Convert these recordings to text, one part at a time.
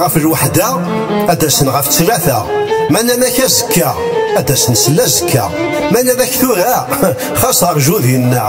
ɣef lweḥda ad d-asen ɣef ttlata ma nanak azekka ad d-asen s lazekka ma nanak tura xas rju dinna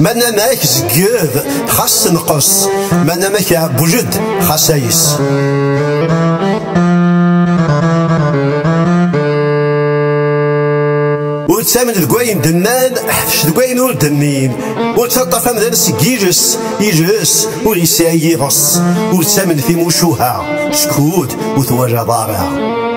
Ma namak zegged xas tenqes Ma namak iɛebbujed xas ayes ur ttamen deg wayen d-nnan ḥfec deg wayen ur d-nnin ur ttaṭṭaf amdan seg yiles yiles ur yesɛi yiɣes ur ttamen timucuha skud ur twalaḍ ara